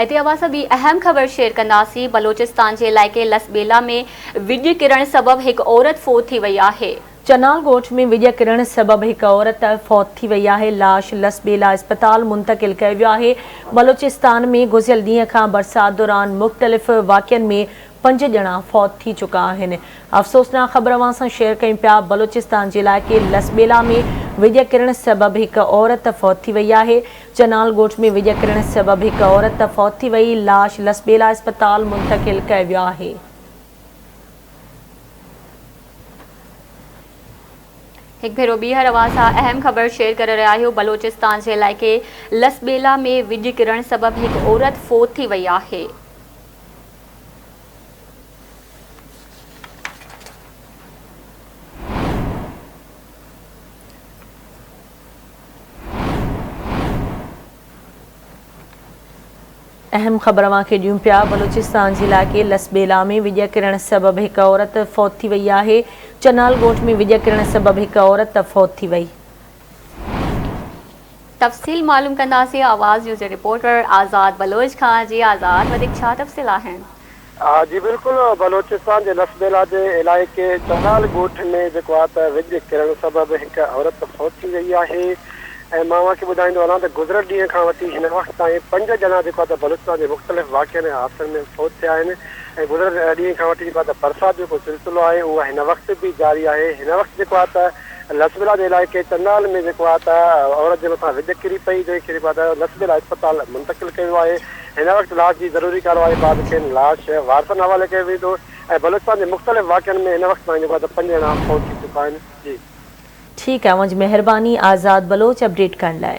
اتي اوهان سان ٻي اهم خبر شيئر ڪنداسين، بلوچستان جي علائقي لس ٻيلا ۾ وڄ ڪرڻ سبب هڪ عورت فوت ٿي وئي آهي. چنال ڳوٺ ۾ وڄ ڪرڻ سبب هڪ عورت فوت ٿي وئي آهي، لاش لس ٻيلا اسپتال منتقل ڪيو ويو آهي، بلوچستان ۾ گذريل ڏينهن کان برسات دوران مختلف واقعن ۾ پنج ڄڻا فوت ٿي چڪا آهن، افسوسناڪ خبر اوهان سان شيئر ڪيون پيا، بلوچستان جي علائقي لس ٻيلا ۾ وڄ ڪرڻ سبب هڪ عورت فوت ٿي وئي آهي، چنال ڳوٺ ۾ ويڄ ڪرڻ سبب هڪ عورت فوت ٿي وئي، لاش لسٻيلا اسپتال منتقل ڪئي ويو آهي. هڪ ڀيرو ٻيهر اوهان سان اهم خبر شيئر ڪري رهيا آهيون، بلوچستان جي علائقي لسٻيلا ۾ ويڄ ڪرڻ سبب هڪ عورت فوت ٿي وئي آهي. اهم خبر اوهان کي ڏيون پيا بلوچستان جي علائقي لسٻيلا ۾ وڄ ڪرڻ سبب هڪ عورت فوت ٿي وئي آهي چنال ڳوٺ ۾ وڄ ڪرڻ سبب هڪ عورت فوت ٿي وئي. تفصيل معلوم ڪنداسين آواز نيوز جي رپورٽر آزاد بلوچ کان جي آزاد وڌيڪ ڇا تفصيل آهن. ها جي بلڪل بلوچستان جي لس بيلا جي علائقي چولال ڳوٺ ۾ جيڪو آهي ته وڄ ڪرڻ سبب هڪ عورت فوت ٿي وئي آهي ۽ مان اوهان کي ٻڌائيندو هلان ته گذريل ڏينهن کان وٺي هن وقت تائين پنج ڄڻا جيڪو آهي ته بلوچستان جي مختلف واقعن ۽ حادثن ۾ فوت ٿيا آهن ۽ گذريل ڏينهن کان وٺي جيڪو آهي ته برسات جو جيڪو سلسلو آهي اهو هن وقت به جاري آهي هن وقت جيڪو آهي ته لسبيلا جي علائقي چنال ۾ جيڪو آهي ته عورت جي مٿان وڄ ڪري پئي جنهن کي جيڪو آهي ته لسبيلا اسپتال منتقل ڪيو ويو آهي هن وقت لاش جي ضروري ڪارروائي بعد کين لاش وارثن حوالي ڪيو ويندو ۽ بلوچستان جي مختلف واقعن ۾ هن وقت تائين جيڪو آهي ته پنج ڄڻا فوت ٿي چڪا آهن جي. ٺيڪ آهي اوهان جي مهرباني آزاد بلوچ اپڊيٽ ڪرڻ لاء.